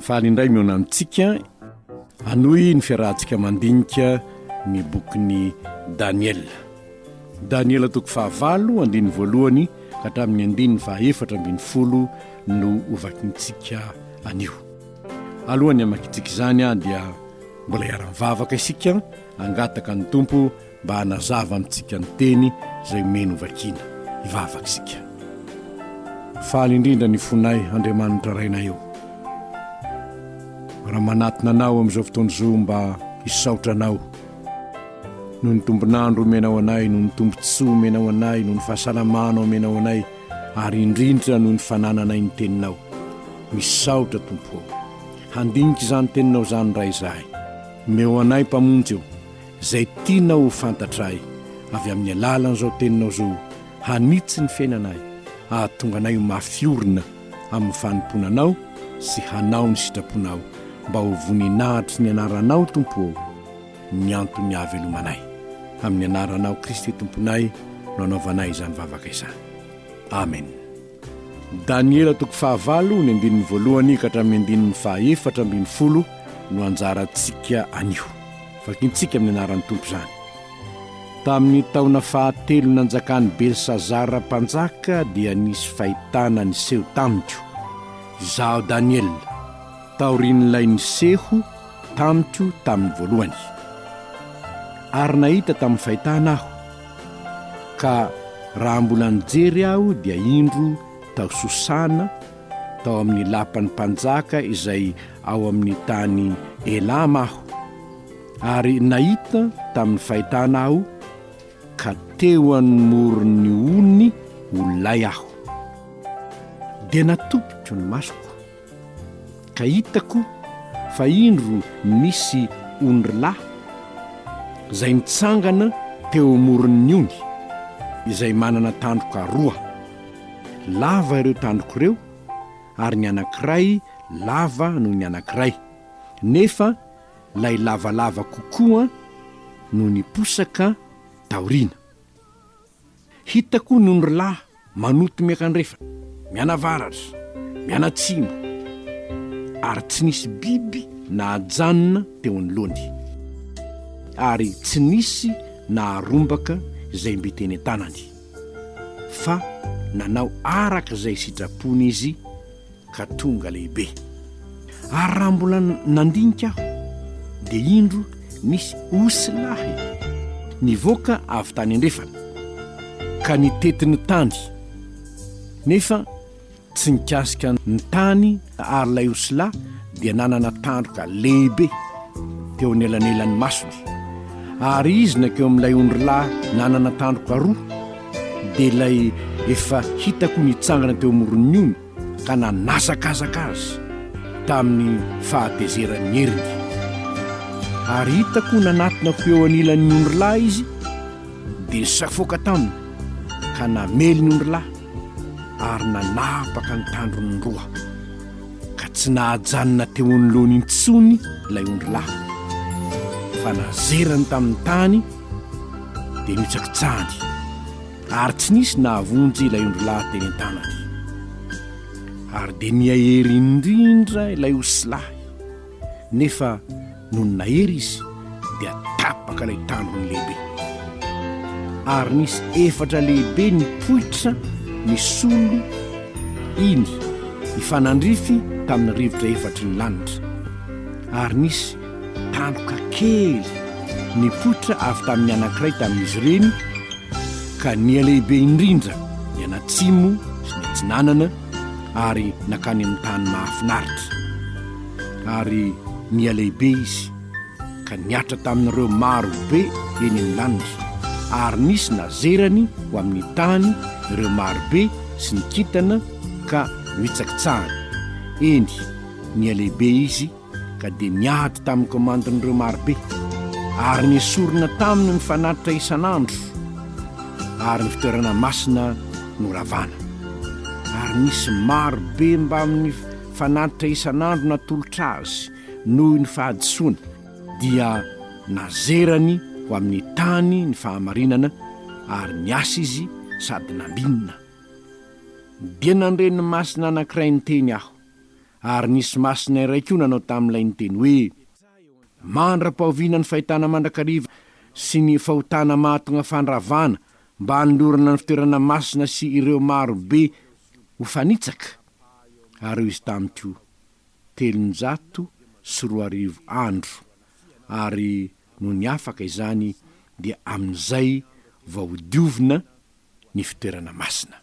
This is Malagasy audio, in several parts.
Faly indray mihaona amintsika hanohy ny fiarahantsika mandinika ny bokin'i Daniela. Daniela toko fahavalo andininy voalohany ka hatramin'ny andininy fahaefatra ambin'ny folo no hovakintsika anio. Alohan'ny hamakintsika izany dia mbola hiara-mivavaka isika hangataka ny Tompo mba hanazava amintsika ny teny izay omeny hovakiana. Hivavaka isika. Faly indrindra ny fonay, Andriamanitra Rainay ô, raha manatona Anao amin'izao fotoana izao mba hisaotra Anao noho ny tombon'andro omenao anay, noho ny tombontsoa omenao anay, noho ny fahasalamana omenao anay, ary indrindra noho ny fanananay ny Teninao. Misaotra, Tompo ô. Handinika izany Teninao izany indray izahay. Omeo anay Mpamonjy ô. Izay tianao ho fantatray avy amin'ny alalan'izao teninao izao hanitsy ny fiainanay, hahatonga anay ho mafy orina amin'ny fanompoana Anao sy hanao ny sitraponao, mba ho voninahitr'i ny Anaranao Tompo ô, ny anton'ny hahavelomanay. Amin'ny Anaranao Kristy Tomponay no anaovanay izany vavaka izany. Amen. Daniela toko fahavalo ny andininy voalohany ka hatramin'ny andininy fahaefatra ambin'ny folo no anjarantsika anio. Vakintsika amin'ny anaran'ny Tompo izany. Tamin'ny taona fahatelo nanjakan'i Belsazara mpanjaka dia nisy fahitana niseho tamiko, izaho Daniela, taorian'ilay niseho tamiko tamin'ny voalohany. Ary nahita tamin'ny fahitana aho Ka raha mbola nijery aho dia indro tao Sosana, tao amin'ny lapan'ny mpanjaka izay ao amin'ny tany Elama aho, ary nahita tamin'ny fahitana aho, ka teo anmoron'ny ony ho lay aho. Dia natopiko ny masoko. Ka hitako fa indro nisy ondry lahy izay nitsangana teo amoron'ny ony, izay manana tandroka roa. Lava ireo tandroka ireo, ary ny anankiray lava noho ny anankiray, nefa ilay lavalava kokoa no niposaka taoriana. Hitako ny ondrilahy manoto miankandrefana, mianavaratra, mianatsimo, ary tsy nisy biby nahajanona teo anoloany, ary tsy nisy naharombaka izay mby teny an-tanany, fa nanao araka izay sitrapony izy, ka tonga lehibe. Ary raha mbola nandinika aho, dia indro nisy osy lahy nivoaka avy tany andrefana, ka nitety ny tany, nefa tsy nikasika ny tany, ary ilay osy lahy dia nanana tandroka lehibe teo anelanelan'ny masony. Ary izy nankeo amin'ilay ondry lahy nanana tandroka roa, dia ilay efa hitako nitsangana teo amoron'ny ony, ka nanazakazaka azy tamin'ny fahatezeran'ny heriny. Ary hitako nanatona ho eo anilan'ny ondrilahy izy, dia nisafoaka taminy, ka namely ny ondrilahy, ary nanapaka ny tandrony roa, ka tsy nahajanona teo anoloany intsony ilay ondrilahy, fa nazerany tamin'ny tany, dia nohitsakitsahany. ary tsy nisy nahavonjy ilay ondrilahy teny an-tanany. Ary dia nihaery indrindra ilay osilahy, nefa nony nahery izy dia tapaka ilay tandrony lehibe. Ary nisy efatra lehibe nipoitra nisolo iny hifanandrify tamin'ny rivotra efatry ny lanitra, ary nisy Tandroka kely nipoitra avy tamin'ny anankiray tamin'izy ireny ka nihalehibe indrindra ny any atsimo sy ny atsinanana ary nankany amin'ny tany mahafinaritra. Ary nihalehibe izy ka nihatra tamin'ireo maro be eny amin'ny lanitra, ary nisy nazerany ho amin'ny tany ireo maro be sy ny kintana ka nitsakitsahany, eny, nihalehibe izy ka dia niady tamin'ny komandin'ireo marobe, ary nesorina taminy ny fanatitra isan'andro, ary ny fitoerana masina noravana. Ary nisy marobe mbamin'ny fanatitra isan'andro natolotra azy noho ny fahadisoany, dia nazerany ho amin'ny tany ny fahamarinana, ary niasa izy sady nambinina. Dia nandre ny masina anankiray niteny aho, Ary nisy masina iray koa nanao tamin'ilay niteny hoe, Mandra-pahoviana ny fahitana mandrakariva sy ny fahotana mahatonga fandravana mba hanolorana ny fitoerana masina sy ireo maro be ho fanitsaka? Ary hoy izy tamiko, Telonjato sy roa arivo andro, ary nony afaka izany dia amin'izay vao hodiovina ny fitoerana masina.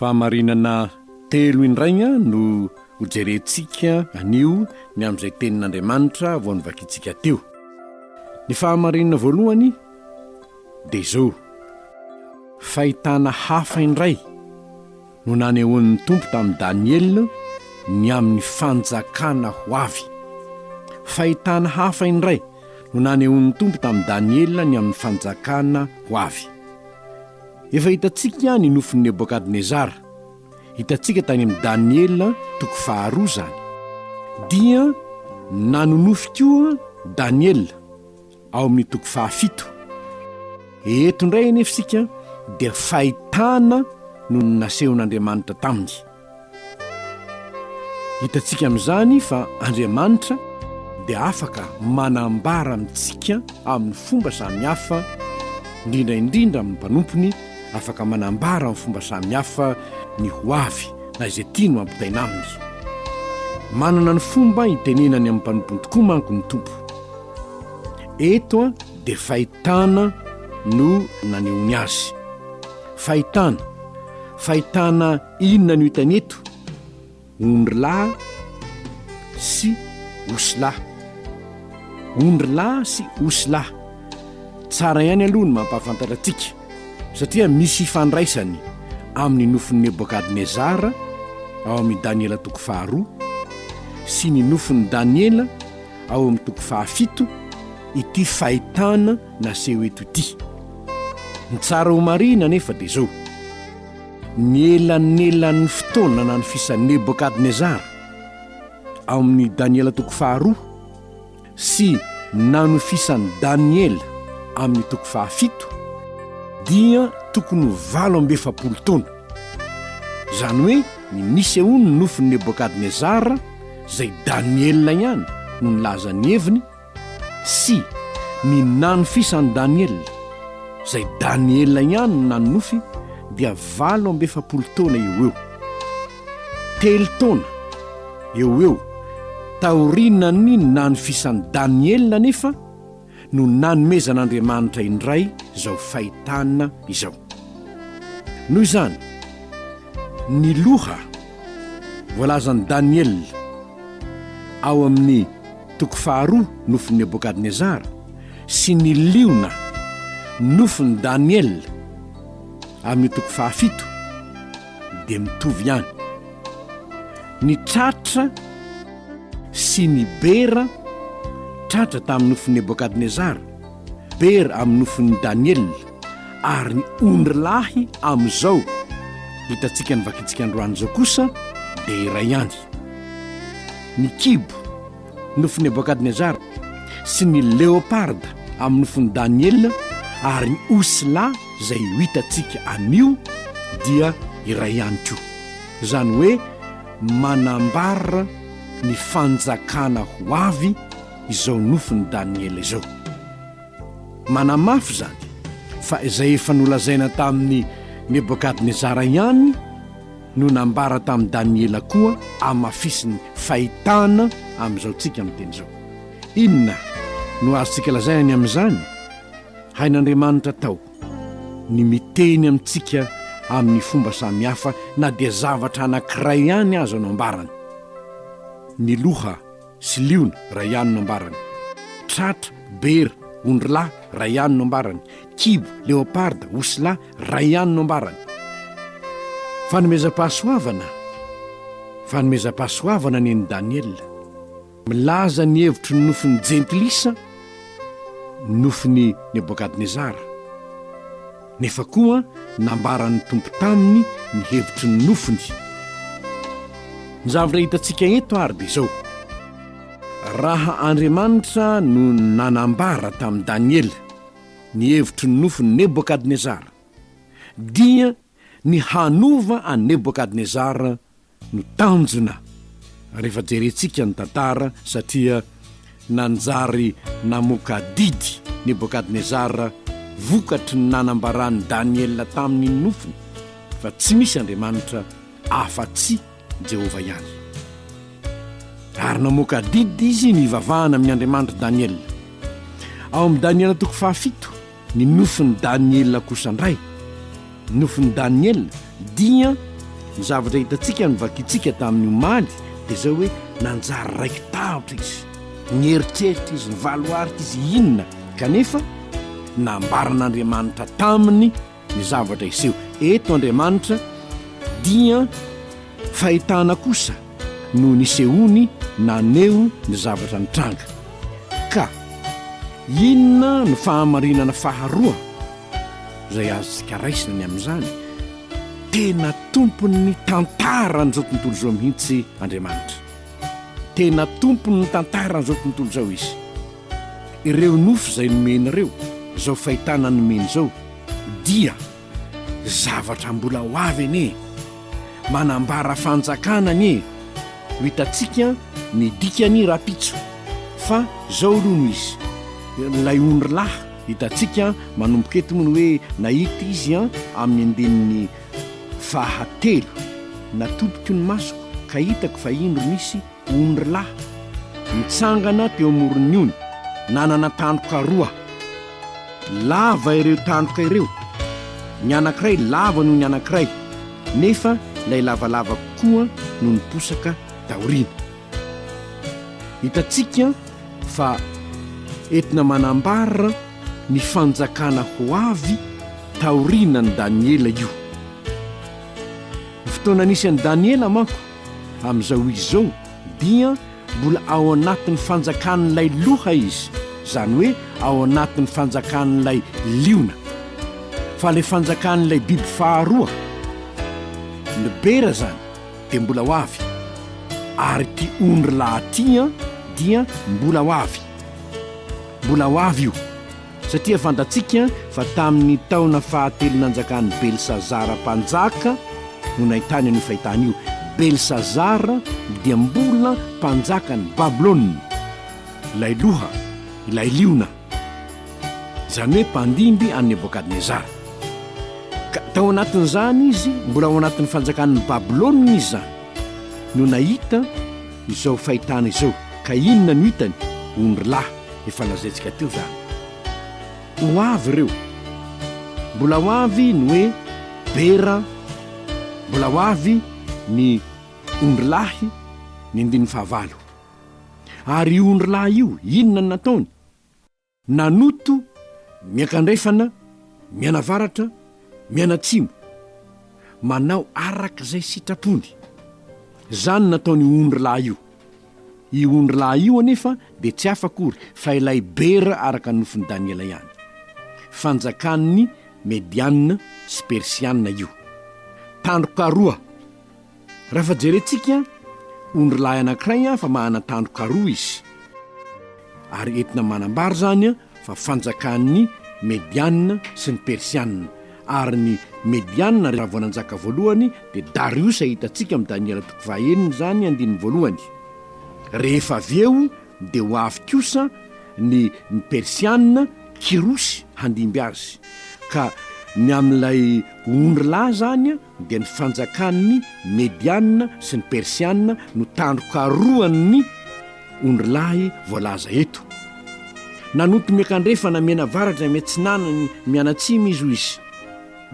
Fahamarinana telo indray no hojerentsika anio ny amin'izay tenin'Andriamanitra vao novakintsika teo. Ny fahamarinana voalohany dia izao, fahitana hafa indray no nanehoan'ny Tompo tamin'i Daniela ny amin'ny fanjakana ho avy. Fahitana hafa indray no nanehoan'ny Tompo tamin'i Daniela ny amin'ny fanjakana ho avy. Efa hitantsika ny nofin'i Nebokadnezara. Hitantsika tany amin'i Daniela toko faharoa izany. Dia nanonofy koa Daniela ao amin'ny toko fahafito. Eto indray anefa isika dia fahitana no nasehon'Andriamanitra taminy. Hitantsika amin'izany fa Andriamanitra dia afaka manambara amintsika amin'ny fomba samihafa, indrindra indrindra amin'ny mpanompony, afaka manambara amin'ny fomba samihafa ny ho avy na izay tiany ho ampitaina aminy. Manana ny fomba hitenenany amin'ny mpanompony tokoa manko ny Tompo. Eto dia fahitana no nanehoany azy. Fahitana, fahitana inona no hitany eto? Ondry lahy sy osy lahy. Ondry lahy sy osy lahy. Tsara ihany aloha ny mampahafantatra antsika satria misy ifandraisany amin'ny nofin'i Nebokadnezara ao amin'ny Daniela toko faharoa sy ny nofin'i Daniela ao amin'ny toko fahafito ity fahitana naseho eto ity. Ny tsara ho marihina anefa dia izao, ny elanelan'ny fotoana nanofisan'i Nebokadnezara ao amin'ny Daniela toko faharoa sy nanofisan'i Daniela amin'ny toko fahafito dia tokony ho valo amby efapolo taona izany hoe ny nisehoan'ny nofin'i nebokadnezara izay daniela ihany no nilaza ny heviny Sy ny nanofisan'i Daniela, izay Daniela ihany no nanonofy, dia valo amby efapolo taona eo ho eo. Telo taona eo ho eo taorianan'ny nanofisan'i Daniela anefa no nanomezan'Andriamanitra indray izao fahitana izao. Noho izany, ny loha voalazan'i Daniela ao amin'ny. Toko faharoa, nofin'i Nebokadnezara sy ny liona, nofin'i Daniela, amin'io toko fahafito dia mitovy ihany. Ny tratra sy ny bera, tratra tamin'ny nofin'i Nebokadnezara, bera amin'ny nofin'i Daniela, ary ny ondry lahy amin'izao hitantsika ny vakintsika androany izao kosa dia iray ihany. ny kibo, nofo Nebokadnezara, sy ny leoparda amin'ny nofon'i Daniela, ary ny osy lahy izay ho hitantsika anio dia iray ihany koa. Izany hoe manambara ny fanjakana ho avy izao nofon'i Daniela izao. Manamafy izany fa izay efa nolazaina tamin'i Nebokadnezara ihany, no nambara tamin'i Daniela koa amafisiny fahitana amin'izao tsika miteny izao. Inona no azontsika lazaina ny amin'izany? Hain'Andriamanitra tao ny miteny amintsika amin'ny fomba samihafa na dia zavatra anankiray ihany aza no ambarany. Ny loha. sy liona, ray anona ambarany, tratra, bera, ondrilahy, ray anona ambarany, kibo, leoparda, osilahy, ray anona ambarany. Fanomezam-pahasoavana Fanomezam-pahasoavana nen'i Daniela. Milaza ny hevitry ny nofin'ny Jentilisa ny nofin'i Nebokadnezara. Nefa koa nambaran'ny Tompo taminy ny hevitry ny nofony. Ny zavatra hitantsika eto ary dia izao, raha Andriamanitra no nanambara tamin'i Daniela ny hevitry ny nofon'i Nebokadnezara, dia ny hanova an'i Nebokadnezara no tanjona rehefa jerentsika ny tantara satria nanjary namoaka adidy Nebokadnezara vokatry ny nanambaran'i Daniela taminy ny nofiny fa tsy misy Andriamanitra afa-tsy Jehovah ihany. Ary namoaka adidy izy nivavahana amin'ny Andriamanitr'i Daniela. Ao amin'ny Daniela toko fahafito, Ny nofin'i Daniela kosa indray. Ny nofin'i Daniela dia ny zavatra hitantsika novakintsika tamin'ny omaly dia izao hoe nanjary raiki-tahotra izy. Nieritreritra izy, nivaloarika izy inona kanefa nambaran'Andriamanitra taminy ny zavatra hiseho. Eto Andriamanitra dia fahitana kosa. no nisehoany naneho ny zavatra nitranga. Ka inona no fahamarinana faharoa izay azontsika raisina ny amin'izany? Tena tompon'ny tantaran'izao tontolo izao mihitsy Andriamanitra. Tena tompon'ny tantaran'izao tontolo izao Izy. Ireo nofo izay nomeny ireo, izao fahitana nomeny izao, dia. Zavatra mbola ho avy anie. Manambara fanjakana anie. Ho hitantsika ny dikany rahampitso. Fa izao aloha no izy. Ilay ondry lahy hitantsika manomboka eto moa ny hoe nahita izy amin'ny andininy fahatelo. Natopiko ny masoko ka hitako fa indro nisy Omry lahy, nitsangana teo amoron'ny ony, nanana tandroka roa. Lava ireo tandroka ireo, ny anankiray lava noho ny anankiray, nefa ilay lavalava koa no niposaka taoriana. Hitantsika fa entina manambara ny fanjakana ho avy taorianan'i Daniela io. Ny fotoana nisy an'i Daniela manko Amin'izao izy izao dia mbola ao anatin'ny fanjakan'ilay loha izy, izany hoe ao anatin'ny fanjakan'ilay liona. Fa ilay fanjakan'ilay biby faharoa, ny bera izany, dia mbola ho avy. Ary ity ondry lahy ity dia mbola ho avy. Mbola ho avy io. satria fantatsika fa tamin'ny taona fahatelo nanjakan'i Belsazara mpanjaka no nahitany an'io fahitana io. Belsazara dia mbola mpanjakan'i Babylona, ilay loha, ilay liona, izany hoe mpandimby an'i Nebokadnezara. Ka tao anatin'izany izy, mbola ao anatin'ny fanjakan'i Babylona izy izany, no nahita izao fahitana izao. Ka inona no hitany? Ondrilahy. efa lazaintsika teo izany. Ho avy ireo. Mbola ho avy ny hoe bera, mbola ho avy ny ondrilahy, ny andininy fahavalo. Ary io ondrilahy io, inona no nataony? Nanoto miankandrefana, mianavaratra, mianatsimo, manao araka izay sitrapony. Izany no nataon'io ondrilahy io. Io ondry lahy io anefa dia tsy hafa akory fa ilay Bera araka ny nofin'i Daniela ihany. Fanjakan'ny Medianina sy Persianina io. Tandroka roa. Raha fa jerentsika ondry lahy anankiray fa manana tandroka roa izy. ary entina manambara izany fa fanjakan'ny Mediana sy ny Persiana, ary ny Mediana raha vao nanjaka voalohany dia Dariosa hitantsika amin'i Daniela toko fahaenina izany andininy voalohany, rehefa avy eo dia ho avy kosa ny ny Persiana, Kirosy handimby azy, ka ny amin'ilay ondry lahy izany dia ny fanjakan'ny Mediana sy ny Persiana no tandroka roan'ny ondry lahy voalaza eto. Nanonto miankandrefana mianavaratra miatsinanany mianatsimo izy, hoy izy.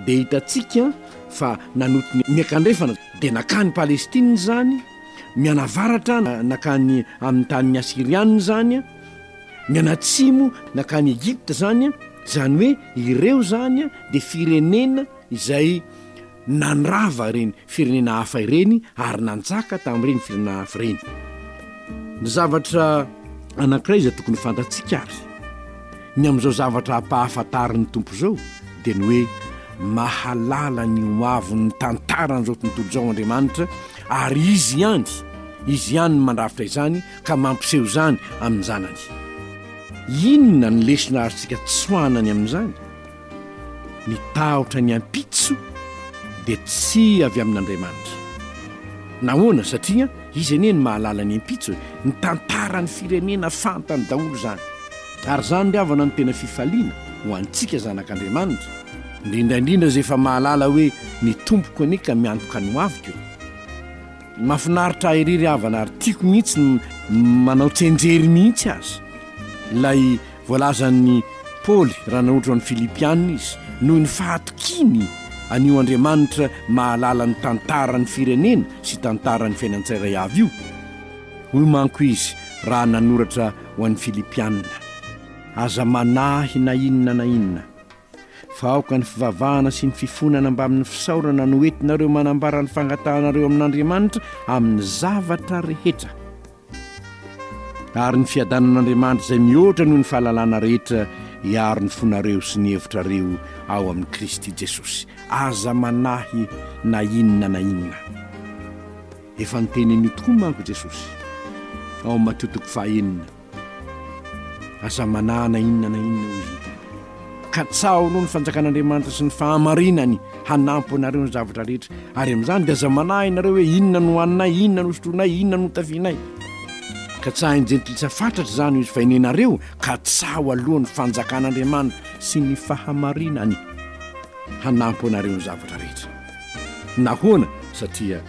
Dia hitantsika fa nanonto miankandrefana dia nakany Palestina izany, mianavaratra nakany amin'ny tanin'ny Asiriana izany, mianatsimo nakany Egypta izany, izany hoe ireo izany dia firenena, izay nandrava ireny firenena hafa ireny ary nanjaka tamin'ireny firenena hafa ireny. Ny zavatra anankiray izay tokony fantatsika ary ny amin'izao zavatra hampahafantarin'ny Tompo izao dia ny hoe mahalala ny ho avon'ny tantaran'izao tontolo izao Andriamanitra ary Izy ihany, Izy ihany no mandrafitra izany ka mampiseho izany amin'ny Zanany. Inona ny lesona azontsika tsoahana ny amin'izany? ny tahotra ny ampitso dia tsy avy amin'Andriamanitra. Nahoana? Satria izy anie no mahalala ny ampitso e! Ny tantaran'ny firenena fantany daholo izany. Ary izany ry havana no tena fifaliana ho antsika zanak'Andriamanitra, indrindra indrindra izay efa mahalala hoe ny Tompoko anie ka miantoka ny hoaviko e! Mahafinaritra ahy ery ry havana ary tiako mihitsy ny manao tsianjery mihitsy aza ilay Voalazan'i Paoly raha nanoratra ny Filipiana izy, noho ny fahatokiany an'io Andriamanitra mahalala ny tantaran'ny firenena sy tantaran'ny fiainan'ny tsirairay avy io. Hoy manko izy raha nanoratra ho an'ny Filipiana, Aza manahy na inona na inona. Fa aoka ny fivavahana sy ny fifonana mbamin'ny fisaorana no entinareo manambara ny fangatahanareo amin'Andriamanitra amin'ny zavatra rehetra. Ary ny fiadanan'Andriamanitra izay mihoatra noho ny fahalalana rehetra hiaro ny fonareo sy ny hevitrareo ao amin'i Kristy Jesosy. Aza manahy na inona na inona. Efa notenen'io tokoa manko Jesosy ao amin'ny Matio toko faha enina. Aza manahy na inona na inona, hoy izy niteny hoe, Katsaho aloha ny fanjakan'Andriamanitra sy ny fahamarinany hanampo anareo amin'ny zavatra rehetra, ary amin'izany dia aza manahy ianareo hoe inona no hohaninay, inona no hosotroinay, inona no hotafianay. Katsahin'ny Jentilisa fatratra izany, hoy izy, fa enenareo katsaho aloha ny fanjakan'Andriamanitra sy ny fahamarinany hanampo anareo amin'ny zavatra rehetra. Nahoana? Satria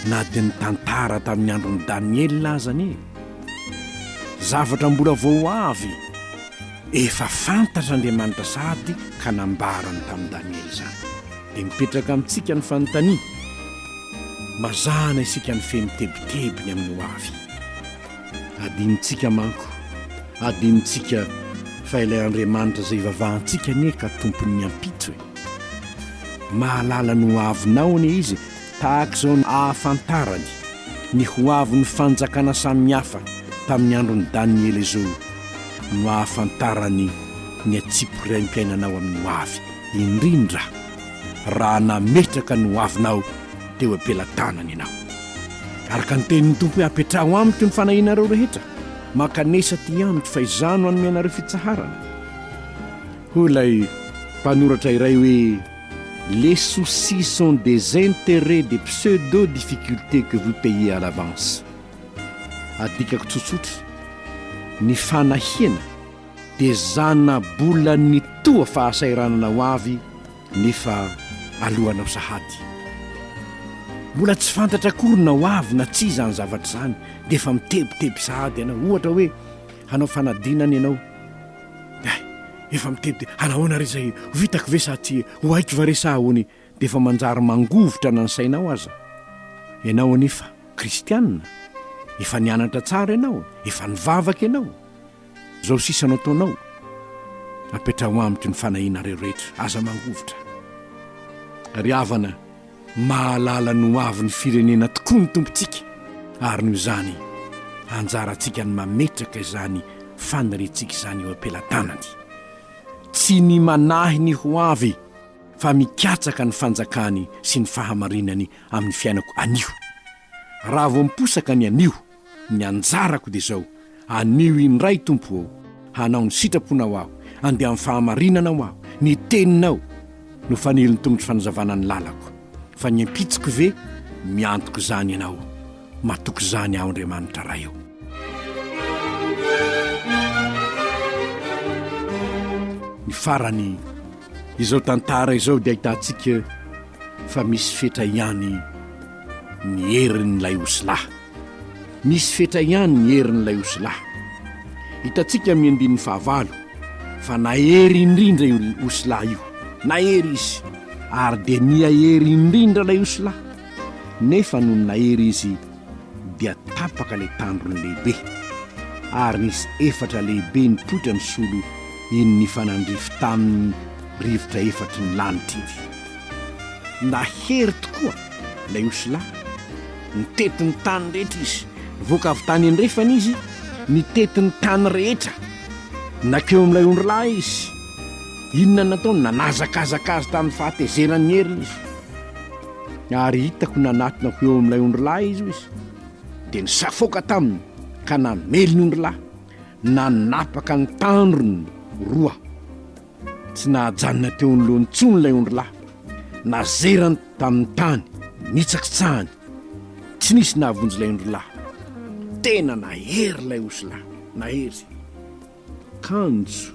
na dia ny tantara tamin'ny andron'i Daniela aza anie, Zavatra mbola vao ho avy, efa fantatr'Andriamanitra sahady ka nambarany tamin'i Daniela izany. Dia mipetraka amintsika ny fanontaniana, mazàna isika ny feno tebiteby ny amin'ny ho avy. Adinontsika manko, adinontsika fa ilay Andriamanitra izay ivavahantsika anie ka Tompon'ny ampitso e! Mahalala ny ho avinao anie Izy tahaka izao ny ahafantarany ny ho avin'ny fanjakana samihafa tamin'ny andron'i Daniela izao no ahafantarany ny antsipiriaim-piainanao amin'ny ho avy, indrindra raha nametraka ny ho avinao teo am-pelatanany ianao. Araka ny tenin'ny Tompo hoe apetraho amiko ny fanahianareo rehetra, mankanesa aty amiko fa izaho no hanome anareo fitsaharana. Hoy ilay mpanoratra iray hoe. Les soucis sont des intérêts des pseudo difficultés que vous payez à l'avance. Adikako tsotsotra, ny fanahiana dia zana-bolan'ny toa fahasahiranana ho avy nefa alohanao sahady. Mbola tsy fantatra akory na ho avy na tsia izany zavatra izany dia efa mitebiteby sahady ianao. Ohatra hoe hanao fanadinana ianao. Hay, efa mitety hanahoana re izay, ho vitako ve sa tsy ho haiko va re sa ahoany dia efa manjary mangovitra na ny sainao aza. Ianao anefa kristiana, efa nianatra tsara ianao, efa nivavaka ianao. Izao sisa no ataonao, apetraho amiko ny fanahianareo rehetra, aza mangovitra ry havana. Mahalala ny ho avin'ny firenena tokoa ny Tompontsika, ary noho izany, anjarantsika ny mametraka izany faniriantsika izany eo am-pelatanany. Tsy ny manahy ny ho avy, fa mikatsaka ny fanjakany sy ny fahamarinany amin'ny fiainako anio. Raha vao miposaka ny anio, Ny anjarako dia izao, anio indray Tompo ô, hanao ny sitraponao aho, andeha amin'ny fahamarinana ho aho, ny teninao no fanilin'ny tongotro fanazavana ny lalako, fa ny ampitsiko ve miantoka izany ianao, matoky izany aho Andriamanitra Ray ô. Ny farany, izao tantara izao dia ahitantsika fa misy fetra ihany. ny herin'ilay osilahy. Misy fetra ihany ny herin'ilay osilahy. Hitantsika amin'ny andininy fahavalo fa nahery indrindra io osilahy io. Nahery izy, ary dia nihahery indrindra ilay osilahy. Nefa nony nahery izy, dia tapaka ilay tandrony lehibe, ary nisy efatra lehibe nipoitra nisolo iny nifanandrify taminy rivotra efatry ny lanitra iny. Nahery tokoa ilay osilahy. Nitety ny tany rehetra izy. Nivoaka avy tany andrefana izy, nitety ny tany rehetra. Nankeo amin'ilay ondrilahy izy. Inona no nataony? Nanazakazaka azy tamin'ny fahatezeran'ny heriny izy. Ary hitako nanatona ho eo amin'ilay ondrilahy izy hoy izy, dia nisafoaka taminy ka namely ny ondrilahy, nanapaka ny tandrony roa. Tsy nahajanona teo anoloany intsony ilay ondry lahy. Nazerany tamin'ny tany, nitsakitsahany. Tsy nisy nahavonjy ilay ondry lahy. Tena nahery ilay osy lahy, nahery. Kanjo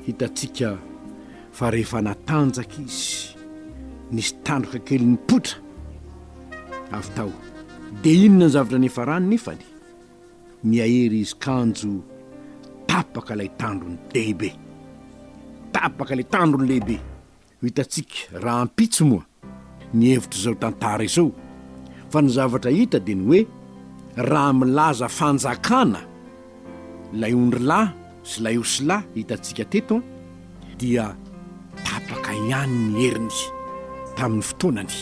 hitantsika fa rehefa natanjaka izy, nisy tandroka kely nipoitra avy tao. Dia inona ny zavatra niafarany nefany? Nihaery izy kanjo tapaka ilay tandrony lehibe. Tapaka ilay tandrony lehibe. Ho hitantsika rahampitso moa ny hevitr'izao tantara izao fa ny zavatra hita dia ny hoe raha milaza fanjakana ilay ondrilahy, sy ilay osila hitantsika teto dia tapaka ihany ny heriny tamin'ny fotoanany.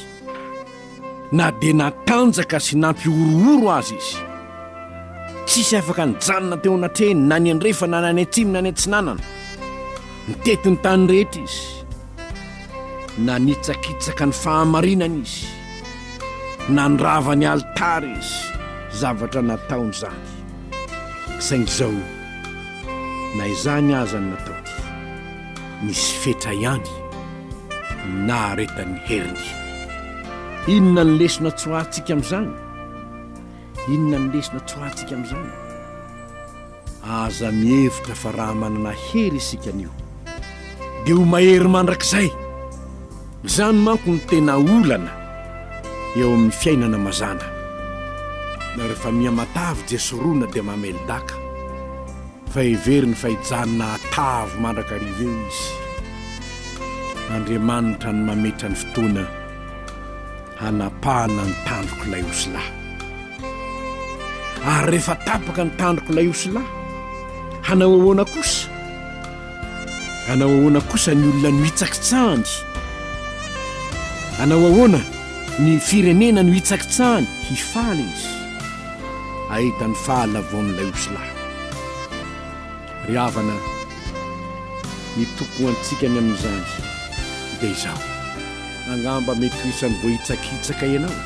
Na dia natanjaka sy nampihorohoro aza izy, tsisy afaka nijanona teo anatrehiny na ny andrefana na ny atsimo na ny atsinanana. Nitety ny tany rehetra izy. Nanitsakitsaka ny fahamarinana izy. Nandrava ny alitara izy, zavatra nataony izany. Saingy izao. Na izany aza ny natao dia nisy fetra ihany ny naharetan'ny heriny. Inona ny lesona tsoahantsika amin'izany? Inona ny lesona tsoahantsika amin'izany? Aza mihevitra fa raha manana hery isika anio dia ho mahery mandrakizay! Izany manko no tena olana eo amin'ny fiainana mazàna. Na rehefa miha matavy Jesorona dia mamely daka, fa heveriny fa hijanona hatavy mandrakariva eo izy. Andriamanitra no mametra ny fotoana hanapahana ny tandrok'ilay osilahy. Ary rehefa tapaka ny tandrok'ilay osilahy, hanao ahoana kosa? Hanao ahoana kosa ny olona no hitsakitsahany? Hanao ahoana ny firenena no hitsakitsahany? Hifaly izy, hahita ny fahalavoan'ilay osilahy. Ry havana, ny tokony ho antsika ny amin'izany dia izao, angamba mety ho isan'ny voahitsakitsaka ianao.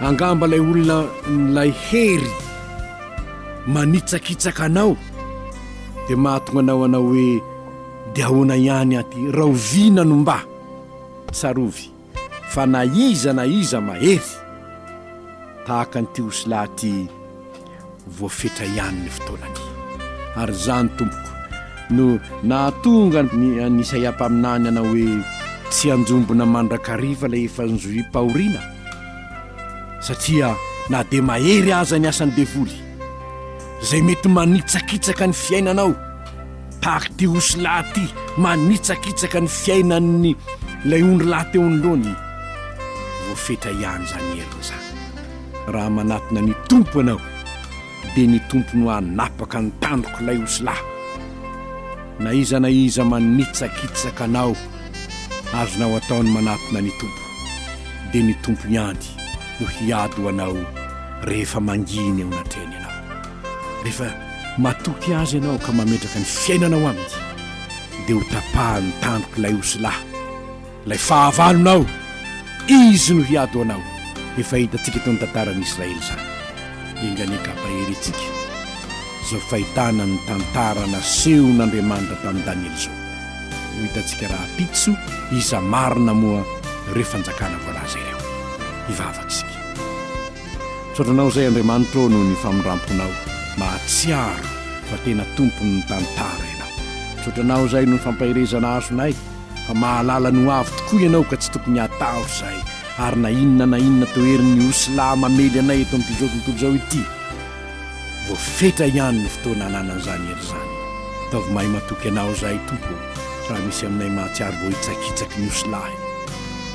Angamba ilay olona milay hery manitsakitsaka anao. Dia mahatonga anao hanao hoe, Dia ahoana ihany aty? Rahoviana no mba? Tsarovy fa na iza na iza mahery, tahaka an'ity osilahy ity, voafetra ihany ny fotoanany. Ary izany, tompoko, no nahatonga ny an'i Isaia mpaminany hanao hoe, Tsy hanjombona mandrakariva ilay efa nizohim-pahoriana, satria na dia mahery aza ny asan'ny devoly, izay mety manitsakitsaka ny fiainanao tahaka ity osilahy ity manitsakitsaka ny fiainan'ny ilay ondry lahy teo anoloany voafetra ihany izany heriny izany raha manatona ny tompo ianao dia ny tompo no hanapaka ny tandroko ilay osilahy na iza na iza manitsakitsaka anao azonao ataony manatona ny tompo dia ny tompo ihany no hiady ho anao rehefa manginy eo anatrehany ianao. Rehefa matoky Azy ianao ka mametraka ny fiainanao Aminy, dia ho tapahan'ny tandroka ilay osilahy, ilay fahavalonao. Izy no hiady ho anao. Efa hitantsika tao ny tantaran'i Israely izany. Enga anie ka ampaherentsika izao fahitana ny tantara nasehon'Andriamanitra tamin'i Daniela izao. Ho hitantsika rahampitso iza marina moa ireo fanjakana voalaza ireo. Hivavaka isika. Misaotra Anao izay Andriamanitra ô noho ny famindramponao. Mahatsiaro fa tena tompon'ny tantara Ianao. Misaotra Anao izay noho ny fampaherezana azonay fa mahalala ny ho avy tokoa Ianao ka tsy tokony hatahora izahay ary na inona na inona toherin'ny osilahy mamely anay eto amin'ity zao tontolo izao ity. Vao fetra ihany ny fotoana ananan'izany hery izany. Ataovy mahay matoky Anao izahay, Tompo ô, raha misy aminay mahatsiaro voahitsakitsaky ny osilahy.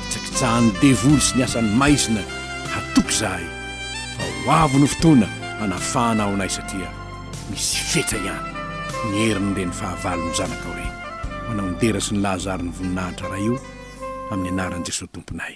Hitsakitsahan'ny devoly sy ny asan'ny maizina hatoky izahay, fa ho avy ny fotoana hanafahanao anay satria misy fetra ihany ny herin'ireny fahavalon'ny Zanakao ireny. Manao ny dera sy ny lahazaron'ny voninahitra Ray o, amin'ny anaran'i Jesoa Tomponay.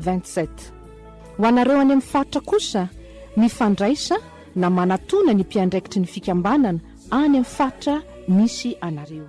27. Ho anareo any amin'ny faritra kosa, mifandraisa na manatona ny mpiandraikitry ny fikambanana any amin'ny faritra misy anareo.